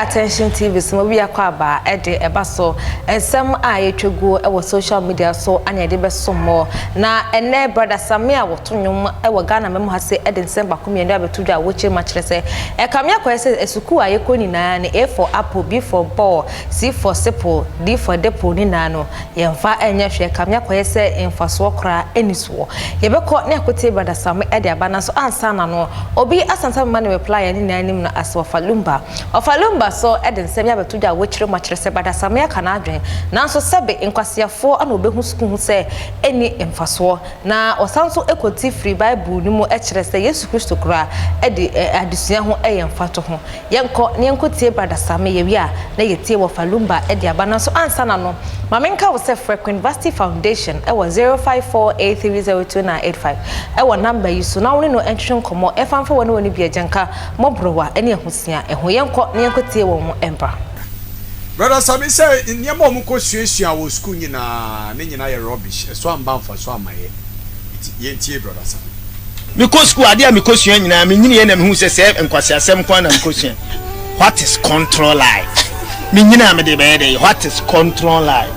attention tv so mu wia kɔ aba ɛde ɛba so nsɛm a yɛtwa guo ɛwɔ social media so ana yɛde bɛso mmɔ na ɛnɛ brada same a wɔto nnwom ɛwɔ ghana mɛmu ha se ɛde nsɛm baako mmienu abɛto dwa a wɔkyerɛ mu akyerɛ sɛ ɛkame akɔyɛ sɛ sukuu a yɛkɔ nyinaa ne a for apple b for ball Sifo sepo, difo depo ne naa no, yɛmfa nyɛ hwɛ, kame akɔyɛ sɛ mfasoɔ koraa nni soɔ. Yɛbɛkɔ ne akotee Brada Same de aba, nanso ansa na no, obi asansa mema no reply yɛne nyinaa nim no ase Ɔfa Lumba. Ɔfa Lumba so de nsɛm yi abɛto dwa a wokyerɛ mu akyerɛ sɛ Brada Same aka n'adwene, nanso sɛbe nkwaseafoɔ na wɔbɛhu sukuu ho sɛ ɛnni mfasoɔ, na wɔsan nso kɔti firi Bible no mu kyerɛ sɛ Yesu Kristo koraa de adesua ho yɛ mfatoho. Yɛnkɔ na yɛnkɔ tie Brada Same, yɛwie a na yɛtie Wɔfa Lumba de aba. Nanso ansa na no, ma menka wo sɛ frɛ Queen Vasti Foundation wɔ 0548302985 wɔ number yi so na wo ne no ntwetwe nkɔmmɔ ɛfa mfa wɔne wɔn bi agyanka, mmɔborowa ne ahosua ho. Yɛnkɔ na yɛnkɔ tie wɔn mbra. Brada Same sɛ nneɛma a wɔkɔ suasua wɔ sukuu nyinaa, ne nyinaa yɛ rubbish, ɛso amba mfaso amma yɛ. Enti yɛntie Brɔda Asare. Mekɔ sukuu, adeɛ a mekɔsua nyinaa, menyiniiɛ na mehuu sɛ sɛɛ nkwaseasɛm nko ara na mekɔsua. What is control life? Menyinaa mede bɛyɛ dɛn? What is control life?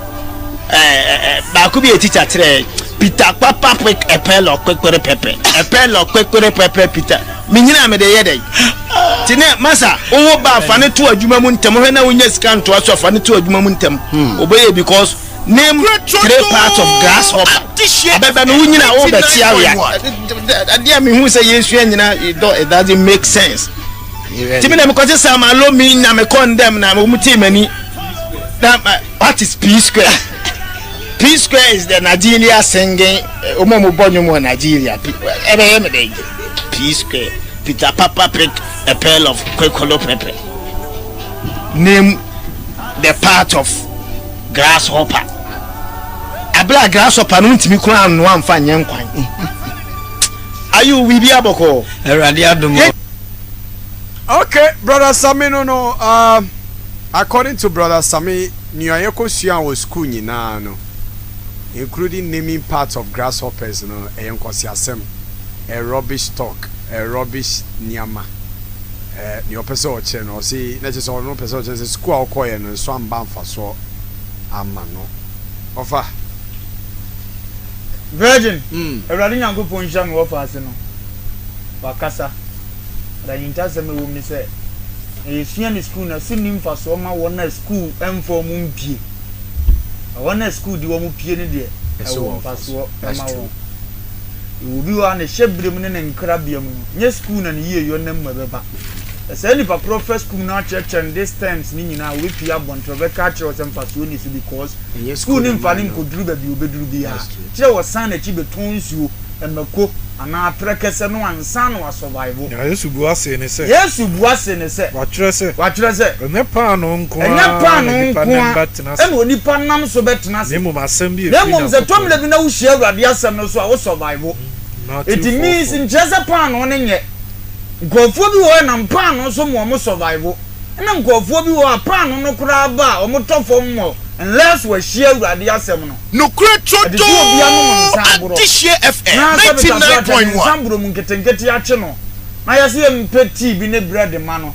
Eh, eh, eh, baako bi yɛ teacher kyerɛɛ, Peter papa quick ɛpɛ lɔ kwekwere pɛpɛ, ɛpɛ lɔ kwekwere pɛpɛ Peter. Menyinaa mede yɛ dɛn? Ti ne, masa, wowo ba fa ne to adwuma mu ntɛm, hwɛ na wonya sika ntoa so a fa ne to adwuma mu ntɛm. Wobɛyɛ because Name three parts of grasshopper. Abɛbɛ no wo nyina wo bɛte awea. Adeɛ a mehu sɛ yɛsua nyina dɔ it doesn't make sense. Nti me na mekɔte sɛ ma lo me nya me kɔ ndɛm na wɔn tee m'ani. Na what is P square? P square is the Nigeria singing wɔn a wɔbɔ nnwom wɔ Nigeria. Ɛbɛyɛ me dɛ P square. Peter Papa pick a pail of kwekolo pepper. Name the part of grasshopper bere a grasshopper no ntumi koraa nnoa mfa nyɛ nkwan. Ayi wo biribi abɔkɔɔ. Awurade adom. Okay, brother Sami no no, uh, according to brother Sami, nea yɛkɔ sua wɔ school nyinaa no, including naming parts of grasshoppers no, ɛyɛ nkɔsiasɛm, a rubbish talk, a rubbish nneɛma. Eh, nea ɔpɛ sɛ ɔkyerɛ no, ɔse, na kyerɛ sɛ ɔno ɔpɛ sɛ ɔkyerɛ sɛ school a ɔkɔɔyɛ no, nso amba mfasoɔ ama no. Ɔfa. Virgin, Awurade Nyankopɔn nhyira me wɔfa ase no, wakasa. But ahintasɛm a ɛwɔ mu ne sɛ, nea yɛsua no sukuu no, ɛso nni mfasoɔ ma wɔn a sukuu mfa wɔn mpue. Na wɔn a sukuu de wɔn pue no deɛ, ɛwɔ mfasoɔ ma wɔn. Yɛwɔ obi wɔ ha ne hyɛberɛ mu ne ne nkrabea mu no, nyɛ sukuu na ne yieyɔ nam mu ɛbɛba. Ɛsɛɛ nipa korɔ fa sukuu no akyerɛkyerɛ no this terms no nyinaa a ɔbɛpie abɔnten ɔbɛka akyerɛ wo sɛ mfasoɔ nni so because sukuu no mfa no nkɔduru baabi a ɔbɛduru biara. Kyerɛ wɔsan n'akyi bɛtɔn nsuo, mako anaa aterɛ kɛsɛ no ansa na wa survive. Na Yesu bua see no sɛ. Yesu bua see no sɛ. Wɔatwerɛ sɛ. Wɔatwerɛ sɛ. Ɛnyɛ paanoo nko ara na nipa nam ba tena ase. Ɛna onipa nam so bɛtena ase. Na mmom asɛm bi a efiri Nyankopɔn. Na mmom sɛ ɛtɔ mmrɛ bi na wohyia Awurade asɛm no so a, wo survive. It means nkyerɛ sɛ paanoo no nyɛ. Nkurɔfoɔ bi wɔ hɔ a ɛnam paanoo so ma wɔn survive. Ɛna nkurɔfoɔ bi wɔ hɔ a paanoo no koraa ba a wɔtɔ fam mmɔ unless wɔahyia Awurade asɛm no. Nokorɛ Trodoo Adehyeɛ FM ninety nine point one. Anaasɛ meka sɛ ɔde nsa boro mu nketenkete akye no. Mayɛ sɛ mepɛ tii bi ne brɛd ma no.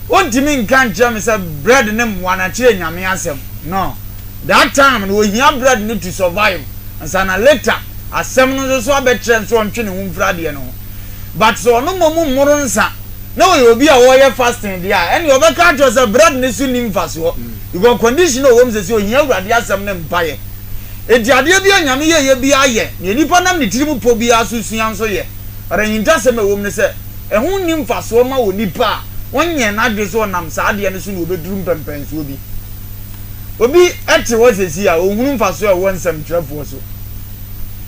Ontumi nka nkyerɛ me sɛ brɛd ne mmoa na kyerɛ Nyame asɛm. No. That time no ohia brɛd no to survive ansa na later asɛm no nso so abɛkyerɛ no sɛ ɔntwe ne ho mfiri adeɛ no ho. But sɛ ɔno mmom mmoro nsa na ɔyɛ obi a ɔreyɛ fasting deɛ a, ɛneɛ ɔbɛka akyerɛ wo sɛ brɛd no so nni mfasoɔ because condition a ɔwɔ mu sɛsɛ ohia Awurade asɛm ne mpaeɛ. Enti adeɛ biara a Nyame yɛeɛ biara yɛ deɛ nipa nam ne tirim pɔ biara so sua nso yɛ. But ahintasɛm a ɛwɔ mu ne sɛ, ɛho nni mfasoɔ mma onipa a ɔnyɛɛ n'adwene sɛ ɔnam saa adeɛ no so na ɔbɛduru mpɛmpɛnsoɔ bi. Obi te hɔ seesei a, ɔnhunu mfasoɔ a ɛwɔ nsɛmtwerɛfoɔ so.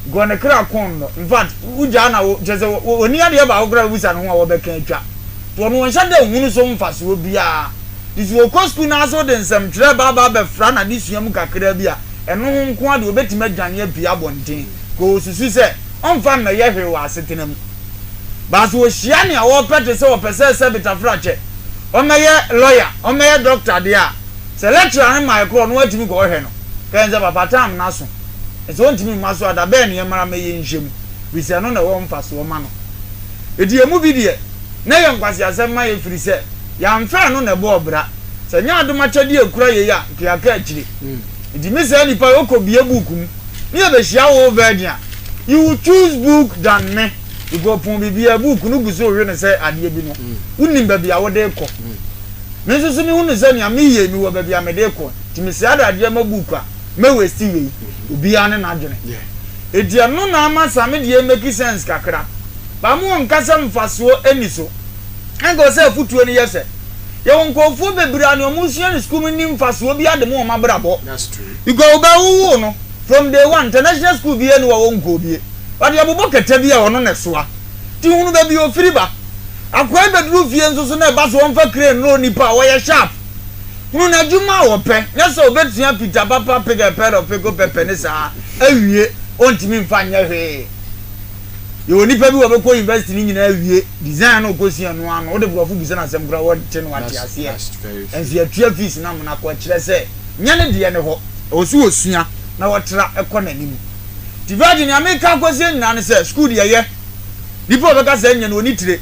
Because ne kra kɔn no. In fact, wogyaa na wo, kyerɛ sɛ, ɔnni adeɛ baako koraa a wobisa ne ho a wɔbɛka atwa. Nti ɔno ɔnhyɛ da nhunu so mfasoɔ biara. Nti sɛ ɔkɔ sukuu no ara sɛ wode nsɛmtwerɛ ba aba abɛfra n'adesua mu kakraa bi a, ɛno ho nko ara deɛ ɔbɛtumi adwane apue abɔnten. Because ɔsusu sɛ, ɔmfa mmɛyɛ hwee wɔ asetena mu. Baaso ohyia nea ɔpɛ te sɛ ɔpɛ sɛ sɛ betafrakyɛ, ɔmmɛyɛ lɔya, ɔmmɛyɛ dɔkta deɛ a, sɛ lɛkkyera he mae korɔ no watumi kɔɔhwɛ no. Kɛɛ nsɛ papa taam no aso. Nsɛ ontumi mma so a da bɛɛ ne yɛmmara mmɛyɛ nhyɛ mu firi sɛ ɛno na ɛwɔ mfasoɔ ma no. Enti emu bi deɛ, na ɛyɛ nkwaseasɛm ma yɛ firi sɛ yɛamfa ɛno na ɛbɔɔ bra. Sɛ nyɛ adom akyɛdeɛ a ɛkura yei a, nka yɛaka akyire. Enti me saa nipa yi ɔkɔ bie book mu ne yɛ bɛ hyia whole virgin a you will choose book than me because ɔpɔn biribiara book no gu so rewe no sɛ adeɛ bi no wo nim baabi a wode rekɔ me nso so me hu no sɛ nea me yie me wɔ baabi a me de rekɔ nti me saa de adeɛ ma book a mɛ waste wei obiara ne n'adwene enti ɛno na ama saa me deɛ make sense kakra baa mo wɔ nkasa mfasoɔ ɛni so. Anka ɔsɛ afotuo no yɛ sɛ, Yɛwɔ nkorɔfoɔ bebree a nea wɔn sua no sukuu mu nni mfasoɔ biara de ma wɔn abrabɔ. Because wo ba wowoo no, from day one, international sukuu biara nni hɔ a wɔnkɔɔ bie. Wɔde abobɔ kɛtɛ bi a ɔno na ɛsoa. Nti hunu baabi a ɔfiri ba. Akoa yi bɛduru fie nso so na ɛba so ɔmfa crane nnoro nnipa a, ɔyɛ sharp. Hunu n'adwuma a ɔpɛ, nyɛ sɛ ɔbɛsua pita papa, pick a pear of pickle pepper ne saa, awie, ɔntumi mfa nyɛ hwee. Yɛwɔ nnipa bi wɔbɛkɔ university no nyinaa awie, design na ɔkɔsua no ara no wode borɔfo bisa no asɛm koraa wɔnte no ate aseɛ, ɛnso yɛatua fees no ama no akɔ, ɛkyerɛ sɛ nyɛ ne deɛ ne hɔ, ɛwɔ sɛ ɔsua na ɔtra kɔ n'anim. Nti Virgin nea meka akɔsie nyinaa ne sɛ school deɛ yɛ, nipa a ɔbɛka saa nyɛ no ɔni tire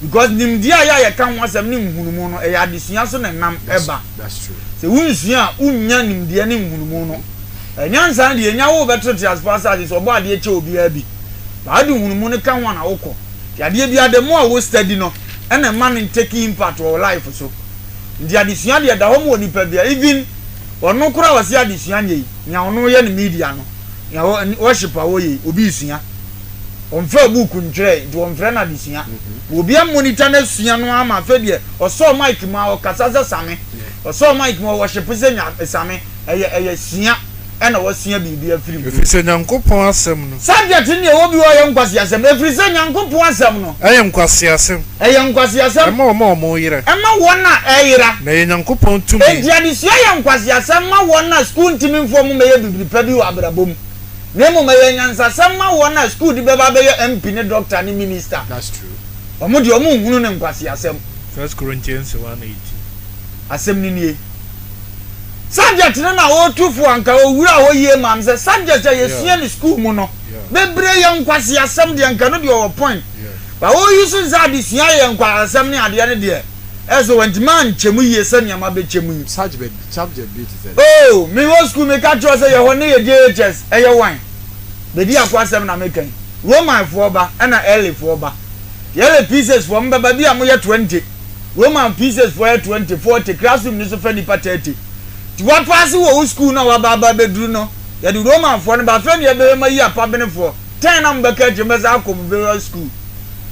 because nimdeɛ a yɛ a yɛka ho asɛm ne nhunumu no ɛyɛ adesua so na ɛnam ba, sɛ wonsua a wonnya nimdeɛ ne nhunumu no. Ɛnyɛ ansa deɛ nya wo bɛtɔ teasefoɔ asase so ɔbɔ adeɛ kyɛ obiara bi but ade hunu mu no ka ho ana wokɔ nti adeɛ biara the more a wo study no ɛna ɛma no take impact wɔ wo life so nti adesua deɛ ɛda hɔ ma wɔ nipa biara even ɔno koraa ɔse adesua nyɛ yi nea ɔno yɛ no media no nea worship a wɔyɛ yi obi sua ɔmfɛ book ntwerɛ nti wɔmfrɛ no adesua mm-hmm. obi monitor no asua no ama afɛ deɛ ɔsɔɔ mic mu a ɔkasa sɛ same Ɔsɔɔ mic mu ɔwɔship sɛ nya same ɛyɛ ɛyɛ sua ɛna wɔsua biribi afiri mu. Ɛfirisɛ Nyankopɔn asɛm no. Subject no deɛ ɛwɔ bi hɔ a ɛyɛ nkwaseasɛm. Ɛfirisɛ Nyankopɔn asɛm no. Ɛyɛ nkwaseasɛm. Ɛyɛ nkwaseasɛm. Ɛma wɔn a wɔreyera. Ɛma wɔn a ɛyera. Na ɛyɛ Nyankopɔn tumi. Enti adesua yɛ nkwaseasɛm ma wɔn a sukuu ntumi mfoɔ mo mɛyɛ bibiri pa bi wɔ abrabɔ mu. Na mmom ɛyɛ nyansasɛm ma wɔn a sukuu de bɛba abɛyɛ MP ne Doctor ne Minister. Wɔn deɛ wɔn nhunu ne nkwaseasɛm. First Corinthians 1:18. Asɛm no nie. Subject no na ɔretu fo anka ɔwuraa hɔ yie maa me sɛ subject a yɛsua no sukuu mu no bebree yɛ nkwaseasɛm deɛ nka no deɛ ɔwɔ point but wo use nsa adesua yɛ nkwaseasɛm ne adeɛ no deɛ ɛyɛ sɛ wantumi ankyɛ mu yie sɛ nneɛma bɛkyɛ mu yi. Subject bi te sɛ dɛn? Oh, me wɔ sukuu meka kyerɛ wo sɛ yɛhɔ ne yɛ JHS ɛyɛ wan? Bedi Ako asɛm na meka yi. Romanfoɔ ba ɛna Earlyfoɔ ba. Yɛrɛ pieces foɔ mbɛba bi a mo yɛ twenty Roman pieces foɔ yɛ twenty forty classroom no so fɛ nipa thirty ti wa paase wɔ wo school no a waba aba abɛduru no yɛde Roman foɔ no ba afei na yɛbɛyɛ mo ayi apabene foɔ ten na mo bɛka akyire mo bɛsan akɔ mo various school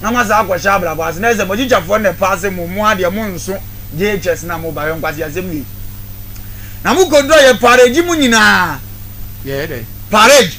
na mo asan akɔ hyɛ abrabɔ ase na ayɛ sɛ mo teacher foɔ no na ɛpaase mo mo ara deɛ mo nso JHS na mo ba hwɛ nkwaseasɛm wei na mo kɔduru a yɛ parage mo nyinaa Yɛyɛ dɛn? parage.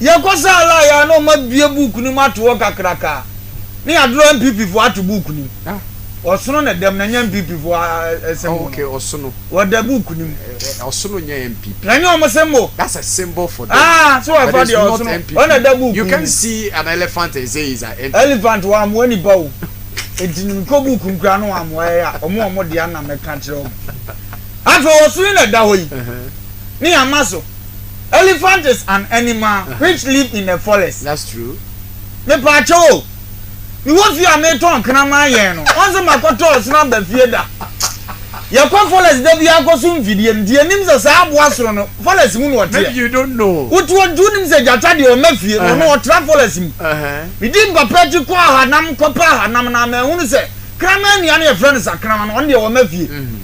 Yɛkɔ sɛ Alai a na ɔma bue book no mu ato hɔ kakraka a, ne yɛadorɔ NPP foɔ ato book no mu. Ɔsono na ɛdam na ɛnyɛ NPP foɔ ɛsɛm mu no. Wɔda book no mu. Na ɛnyɛ wɔn symbol. Ah, so wɔfa deɛ ɔsono, ɔna ɛda book no mu. Elephant wɔammoa nipa o. Enti no mekɔ book no koraa na wɔammoa yɛn a, wɔn wɔn dea no na mɛka akyerɛ wɔn. Afei ɔsono yi na ɛda hɔ yi, ne yɛama so. Elephant is an animal which live in a forest. That's true. Mepaakyɛw o, mewɔ fie a metɔn kraman yɛn no, ɔnse makɔtɔ ɔsono aba fie da. Yɛkɔ forest da biara kɔso mfidie no, nti yɛnim sɛ saa aboa sono no, forest mu na ɔteɛ. Maybe you don't know. Wote hɔ nti wonim sɛ gyata deɛ ɔmma fie, na ɔno ɔtra forest mu. Medi mpapa akyi kɔɔ ahanam kɔpɛ ahanam no a, manhunu sɛ kraman nua no yɛfrɛ no sakraman no, ɔno deɛ ɔmma fie.